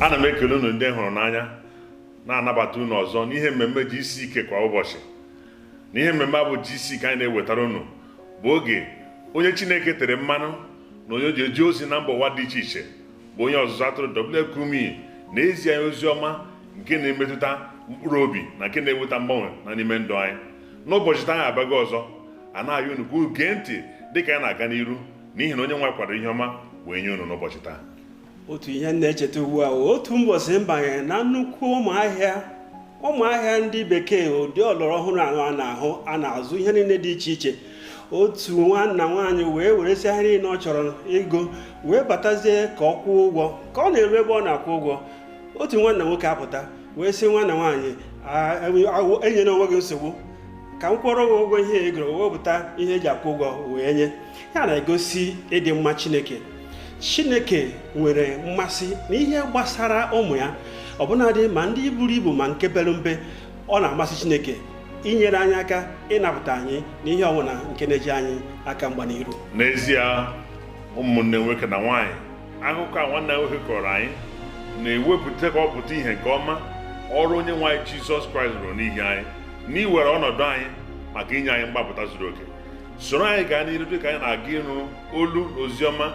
ana m ekele unu ndị hụrụ n'anya na-anabata unu ọzọ n'ihe mmemme GCK kwa ụbọchị na ihe mmemme a bụ GCK anyị na-ewetara unu bụ oge onye chineke tere mmanụ na onye ji eje ozi na mba ụwa dị iche iche bụ onye ọzụzụ atụrụ W Kumuyi na-ezi anyị ozi ọma nke na-emetụta mkpụrụ obi na nke na-eweta mgbanwe na n'ime ndụ anyị n'ụbọchị taa anyị abịago ọzọ a na-ayọ unu ka unu gee ntị dịka anyị na-aga n'iru n'ihi na onye nwe kwadoro ihe ọma wee nye unu n'ụbọchị taa otu ihe m na-echeta ugbu a otu mbọsị m banye na nnukwu ụnọ ahịa ụnọ ahịa ndị bekee ụdị ọlọrọ ọhụrụ ahụ a na-ahụ a na-azụ ihe niile dị iche iche otu nwanna nwaanyị wee weresịa ihe niile ọ chọrọ igo wee batazie ka ọ kwụọ ụgwọ ka ọ na-eru ebe ọ na-akwụ ụgwọ otu nwanna nwoke apụta wee sị nwanna nwaanyị enyene onwe gị nsogbu ka m kwụọrọ gị ụgwọ ihe i goro wepụta ihe e ji akwụ ụgwọ wee nye ihe a na-egosi ịdị mma chineke chineke nwere mmasị na ihe gbasara ụmụ ya ọbụnadị ma ndị buru ibu ma nke pere mpe ọ na-amasị chineke inyere anyị aka ịnapụta anyị na ihe ọbụla nke na-eche anyị aka mgba n'iru n'ezie ụmụnne nwoke na nwaanyị akụkọ a nwanna nwoke kọọrọ anyị na-ewepụta ka ọ pụta ihe nke ọma ọrụ onye nwe anyị jizọs kraịst rụrụ n'ihi anyị na iwere ọnọdụ anyị maka inye anyị mgbapụta zuru oke soro anyị gaa n'iru dịka anyị na-aga ịnụ olu na oziọma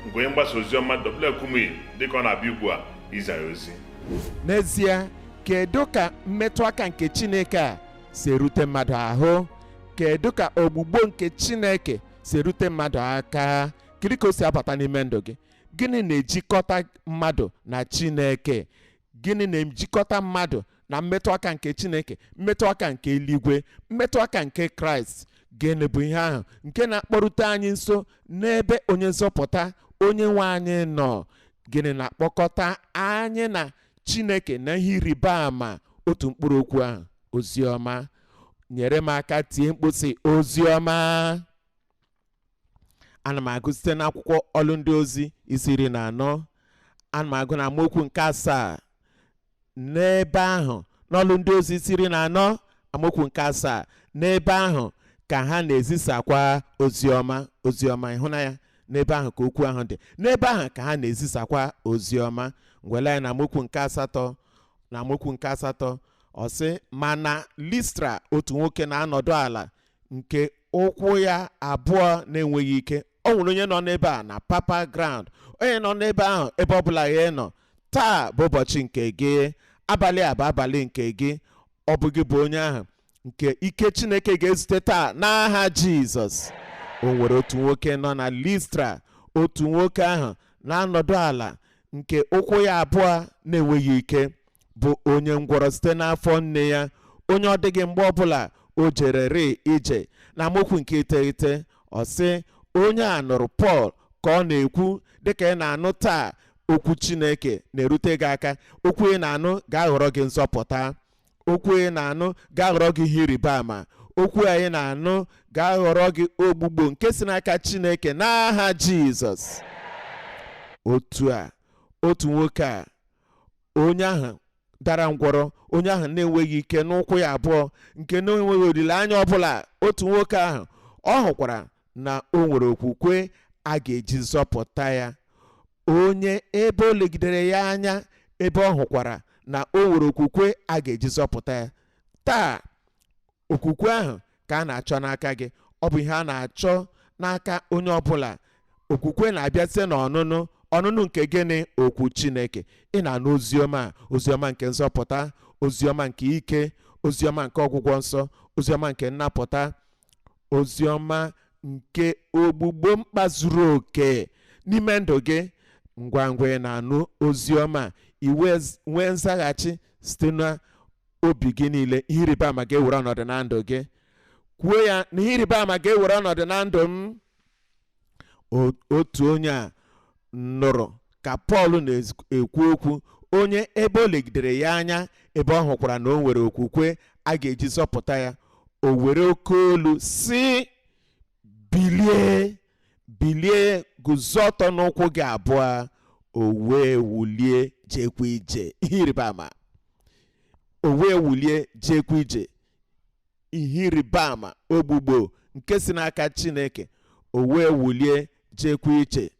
nke onye mgbasa oziọma W Kumuyi dịka ọ na-abịa ugbu a izi anyị ozi n'ezie kedu ka mmetụ aka nke chineke a si erute mmadụ ahụ kedu ka ọgwụgwọ nke chineke si erute mmadụ aka kedu ka o si abata n'ime ndụ gị gịnị na-ejikọta mmadụ na chineke gịnị na-ejikọta mmadụ na mmetụ aka nke chineke mmetụ aka nke eluigwe mmetụ aka nke kraịst gịnị bụ ihe ahụ nke na-akpọrute anyị nso n'ebe onye nzọpụta onye nwe anyị nọ gịnị na-akpọkọta anyị na chineke na ihe ịrịba ama otu mkpụrụ okwu ahụ oziọma nyere m aka tie mkpu sị oziọma ana m agụ site n'akwụkwọ ọlụ ndị ozi isi iri na anọ ana m agụ na amaokwu nke asaa n'ebe ahụ n'ọlụ ndị ozi isi iri na anọ amaokwu nke asaa n'ebe ahụ ka ha na-ezisakwa oziọma oziọma ị hụla ya n'ebe ahụ ka okwu ahụ dị n'ebe ahụ ka ha na-ezisakwa oziọma ngwa lee anya na amaokwu nke asatọ na amaokwu nke asatọ ọ sị ma na listra otu nwoke na-anọdụ ala nke ụkwụ ya abụọ na-enweghị ike o nwere onye nọ n'ebe a na papa ground onye nọ n'ebe ahụ ebe ọbụla ị nọ taa bụ ụbọchị nke gị abalị a bụ abalị nke gị ọ bụ gị bụ onye ahụ nke ike chineke ga-ezute taa n'aha jizọs o nwere otu nwoke nọ na listra otu nwoke ahụ na-anọdụ ala nke ụkwụ ya abụọ na-enweghị ike bụ onye ngwọrọ site n'afọ nne ya onye ọ dịghị mgbe ọbụla o jere rịị ije na amaokwu nke iteghete ọ sị onye a nụrụ pọl ka ọ na-ekwu dịka ị na-anụ taa okwu chineke na-erute gị aka okwu ị na-anụ ga-aghọrọ gị nzọpụta okwu ị na-anụ ga-aghọrọ gị ihe ịrịba ama okwu anyị na-anụ ga-aghọrọ gị ogbugbo nke si n'aka Chineke n'aha Jizọs otu a otu nwoke a onye ahụ dara ngwọrọ onye ahụ na-enweghị ike n'ụkwụ ya abụọ nke na-enweghị olileanya ọbụla otu nwoke ahụ ọ hụkwara na o nwere okwukwe a ga-eji zọpụta ya onye ebe o legidere ya anya ebe ọ hụkwara na o nwere okwukwe a ga-eji zọpụta ya taa okwukwe ahụ ka a na-achọ n'aka gị ọ bụ ihe a na-achọ n'aka onye ọbụla okwukwe na-abịa site n'ọnụnụ ọnụnụ nke gịnị okwu chineke ị na-anụ oziọma a oziọma nke nzọpụta oziọma nke ike oziọma nke ọgwụgwọ nsọ oziọma nke nnapụta ozi ọma nke ogbugbo mkpa zuru oke n'ime ndụ gị ngwa ngwa ị na-anụ ozi ọma i wee nwee nzaghachi site na obi gị niile ihe ịrịba ama ga-ewere ọnọdụ na ndụ gị kwuo ya na ihe ịrịba ama ga-ewere ọnọdụ na ndụ m O- otu onye a nụrụ ka pọl na-ekwu okwu onye ebe o legidere ya anya ebe ọ hụkwara na o nwere okwukwe a ga-eji zọpụta ya o were oke olu sị bilie bilie guzo ọtọ n'ụkwụ gị abụọ o wee wulie jekwa ije ihe ịrịba ama o wee wulie jekwa ije ihe ịrịba ama ogbugbo nke si n'aka chineke o wee wulie jekwa ije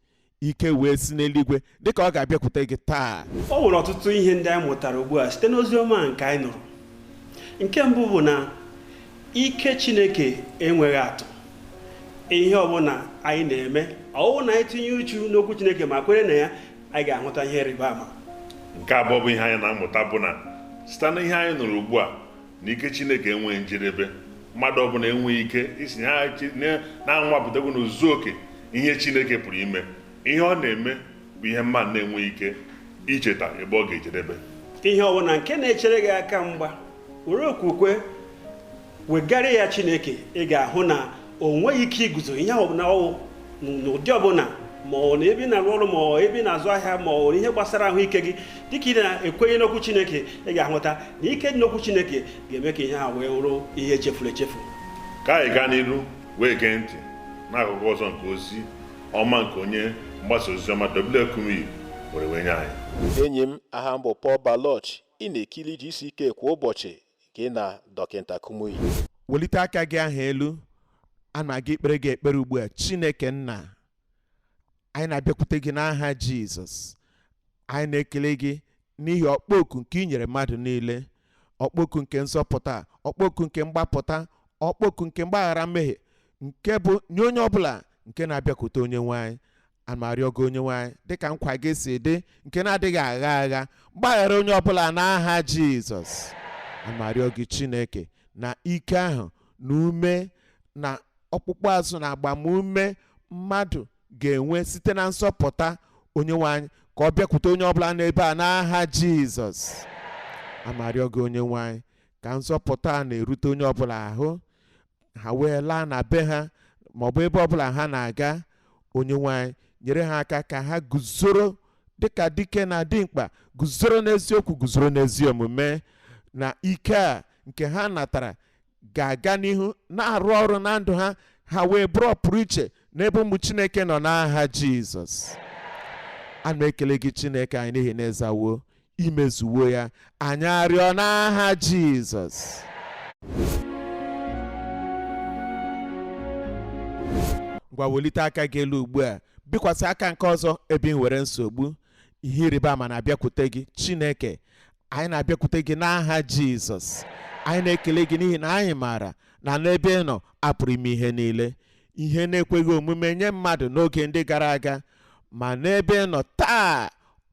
ike wee si n'eluigwe dịka ọ ga-abịakwute gị taa o nwere ọtụtụ ihe ndị anyị mụtara ugbu a site n'ozi ọma nke anyị nụrụ nke mbụ bụ na ike chineke enweghị atụ ihe ọbụla anyị na-eme ọ bụrụ na anyị tinye uchu n'okwu chineke ma kwere na ya anyị ga-ahụta ihe ịrịba ama nke abụọ bụ ihe anyị na-amụta bụ na site na ihe anyị nụrụ ugbu a na ike chineke enweghị njedebe mmadụ ọbụla enweghị ike ịsị na anwapụtago na ozuzu oke ihe chineke pụrụ ime ihe ọ na-eme bụ ihe mmadụ na-enweghị ike icheta ebe ọ ga-ejedebe ihe ọbụla nke na-echere gị aka mgba were okwukwe wegara ya chineke ị ga-ahụ na o nweghị ike iguzo ihe ọbụla ọ wụ n'ụdị ọbụla ma ọ wụ na ebe ị na-arụ ọrụ ma ọ ebe ị na-azụ ahịa ma ọ ihe gbasara ahụike gị dịka ị na-ekwenye n'okwu chineke ị ga-ahụta na ike dị n'okwu chineke ga-eme ka ihe a wee wụrụ ihe echefuru echefu ka anyị gaa n'iru wee gee ntị n'akụkụ ọzọ nke ozi ọma nke onye mgbasa ozi ọma W Kumuyi were wee nye anyị enyi m aha m bụ Paul Baloch ị na-ekiri GCK kwa ụbọchị gị na Dọkịta Kumuyi. Welite aka gị ahụ elu. A na-aga ikpere gị ekpere ugbu a. Chineke Nna, anyị na-abịakwute gị n'aha Jizọs. Anyị na-ekele gị n'ihi ọkpọ oku nke i nyere mmadụ niile. Ọkpọ oku nke nzọpụta, ọkpọ oku nke mgbapụta, ọkpọ oku nke mgbaghara mmehie nke bụ nye onye ọbụla nke na-abịakwute onye nwe anyị. ana m arịọ gị onyenwe anyị dịka nkwa gị si dị nke na-adịghị agha agha gbaghara onye ọbụla n'aha jizọs ana m arịọ gị chineke na ike ahụ na ume na ọkpụkpụ azụ na agbamume mmadụ ga-enwe site na nzọpụta onyenwe anyị ka ọ bịakwute onye ọbụla n'ebe a n'aha jizọs ana m arịọ gị onyenwe anyị ka nzọpụta a na-erute onye ọbụla ahụ ha wee laa na be ha ma ọ bụ ebe ọbụla ha na-aga onyenwe anyị nyere ha aka ka ha guzoro dịka dike na dimkpa guzoro n'eziokwu guzoro n'ezi omume na ike a nke ha natara ga-aga n'ihu na-arụ ọrụ na ndụ ha ha wee bụrụ ọpụrụ iche n'ebe ụmụ chineke nọ n'aha jizọs a na-ekele gị chineke anyị n'ihi na ị zawo i mezuwo ya anyị arịọ n'aha Jizọs ngwa welite aka gị elu ugbu a bikwasị aka nke ọzọ ebe ị nwere nsogbu ihe ịrịba ama na-abịakwute gị Chineke anyị na-abịakwute gị n'aha Jizọs anyị na-ekele gị n'ihi na anyị maara na n'ebe ị nọ a pụrụ ime ihe niile ihe na-ekweghị omume nye mmadụ n'oge ndị gara aga ma n'ebe ị nọ taa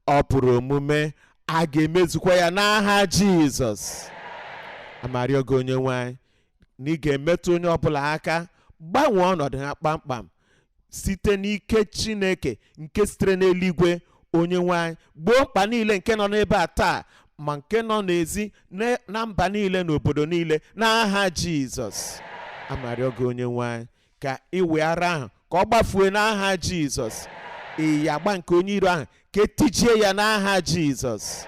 ọ pụrụ omume a ga-emezukwa ya n'aha jizọs ana m arịọ gị onye nwe anyị na ị ga-emetụ onye ọbụla aka gbanwee ọnọdụ ha kpamkpam site n'ike chineke nke sitere n'eluigwe onye nwe anyị gboo mkpa niile nke nọ n'ebe a taa ma nke nọ n'ezi na mba niile na obodo niile n'aha jizọs ana m arịọ gị onye nwe anyị ka ịwị ara ahụ ka ọ gbafue n'aha jizọs iyagba nke onye iro ahụ ka e tijie ya n'aha jizọs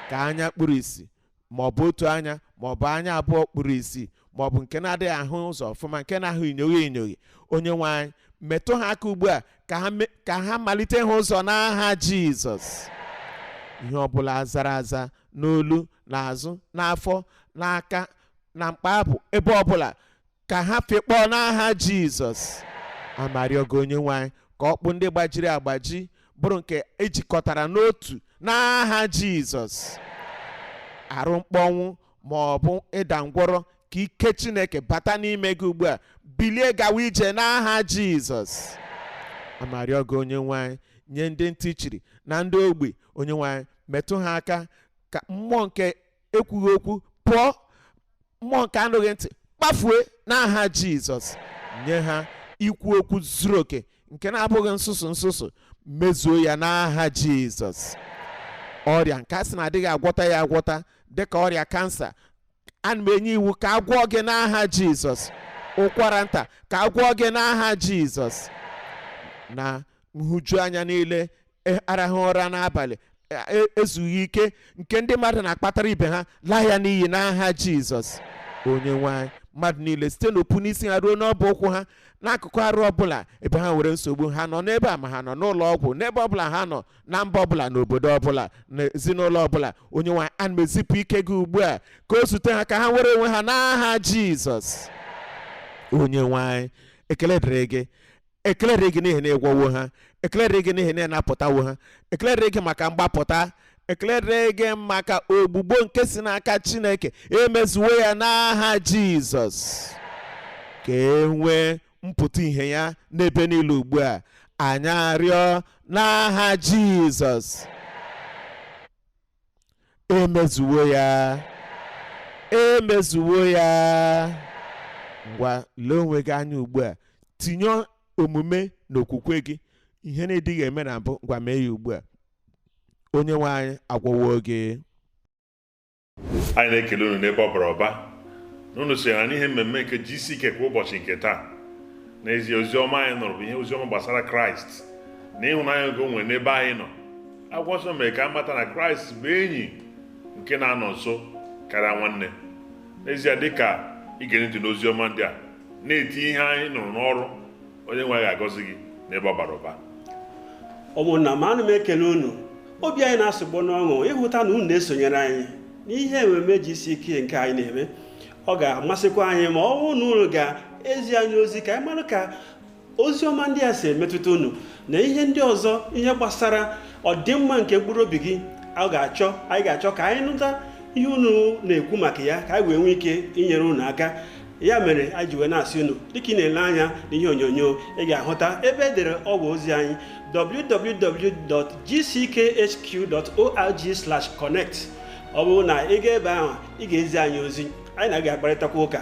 ka anya kpuru isi ma ọ bụ otu anya ma ọ bụ anya abụọ kpuru isi ma ọ bụ nke na-adịghị ahụ ụzọ ọfụma nke na-ahụ inyoghi inyoghi onye nwe anyị metụ ha aka ugbu a ka ha me- ka ha malite ịhụ ụzọ n'aha jizọs ihe ọbụla zara aza n'olu n'azụ n'afọ n'aka na mkpa abụ ebe ọbụla ka ha fekpọọ n'aha jizọs ana m arịọ gị onye nwe anyị ka ọkpụ ndị gbajiri agbaji bụrụ nke e jikọtara n'otu n'aha jizọs arụ mkpọnwụ ma ọ bụ ịda ngwọrọ ka ike chineke bata n'ime gị ugbu a bilie gawa ije n'aha jizọs ana m arịọ gị onye nwe anyị nye ndị ntị chiri na ndị ogbi onye nwe anyị metụ ha aka ka mmụọ nke ekwughị okwu pụọ mmụọ nke anụghị ntị gbafue n'aha jizọs nye ha ikwu okwu zuru oke nke na-abụghị nsụsụ nsụsụ mezuo ya n'aha jizọs ọrịa nke a sị na a dịghị agwọta ya agwọta dịka ọrịa kansa ana m enye iwu ka a gwọọ gị n'aha jizọs ụkwara nta ka a gwọọ gị n'aha jizọs na nhụjuanya niile e- arahụ ụra n'abalị e- e- ezughị ike nke ndị mmadụ na-akpatara ibe ha laa ya n'iyi n'aha jizọs onye nwe anyị mmadụ niile site n'opu n'isi ha ruo n'ọbụ ụkwụ ha n'akụkụ arụ ọbụla ebe ha nwere nsogbu ha nọ n'ebe a ma ha nọ n'ụlọ ọgwụ n'ebe ọbụla ha nọ na mba ọbụla n'obodo ọbụla n'ezinụlọ ọbụla onye nwe anyị ana m ezipụ ike gị ugbu a ka o zute ha ka ha nwere onwe ha n'aha jizọs onye nwe anyị ekele dịrị gị ekele dịrị gị n'ihi na ị gwọwo ha ekele dịrị gị n'ihi na ị napụtawo ha ekele dịrị gị maka mgbapụta ekele dịrị gị maka ọgwụgwọ nke si n'aka chineke e mezuwo ya n'aha jizọs ka e nwee mpụta ihe ya n'ebe niile ugbu a anyị arịọ n'aha jizọs e mezuwo ya e mezuwo ya ngwa lee onwe gị anya ugbu a tinye omume n'okwukwe gị ihe ị na-adịghị eme na mbụ ngwa mee ya ugbu a onye nwe anyị agwọwo gị anyị na-ekele unu n'ebe ọ bara ụba na unu sonyere anyị n'ihe mmemme nke gck kwa ụbọchị nke taa n'ezie ozi ọma anyị nụrụ bụ ihe ozi ọma gbasara kraịst na ịhụnanya nke o nwere n'ebe anyị nọ akwụkwọ nsọ mere ka a mata na kraịst bụ enyi nke na-anọ nso karịa nwanne n'ezie dịka ige ntị n'ozi ọma ndị a na-eti ihe anyị nụrụ n'ọrụ onye nwe anyị ga-agọzi gị n'ebe ọ bara ụba ụmụnna m ana m ekele unu obi anyị na-asụgbọ n'ọṅụ ịhụta na unu na-esonyere anyị n'ihe ememe gck nke anyị na-eme ọ ga-amasịkwa anyị ma ọ bụrụ na unu ga-ezi anyị ozi ka anyị mara ka ozi ọma ndị a si emetụta unu na ihe ndị ọzọ ihe gbasara ọdịmma nke mkpụrụ obi gị a ga-achọ anyị ga-achọ ka anyị nụta ihe unu na-ekwu maka ya ka anyị wee nwee ike inyere unu aka ya mere anyị ji wee na-asị unu dịka ị na-ele anya na ihe onyonyo ị ga-ahụta ebe e dere ọwa ozi anyị www.gckhq.org/connect ọ bụrụ na ị gaa ebe ahụ ị ga-ezi anyị ozi anyị na gị akparịtakwa ụka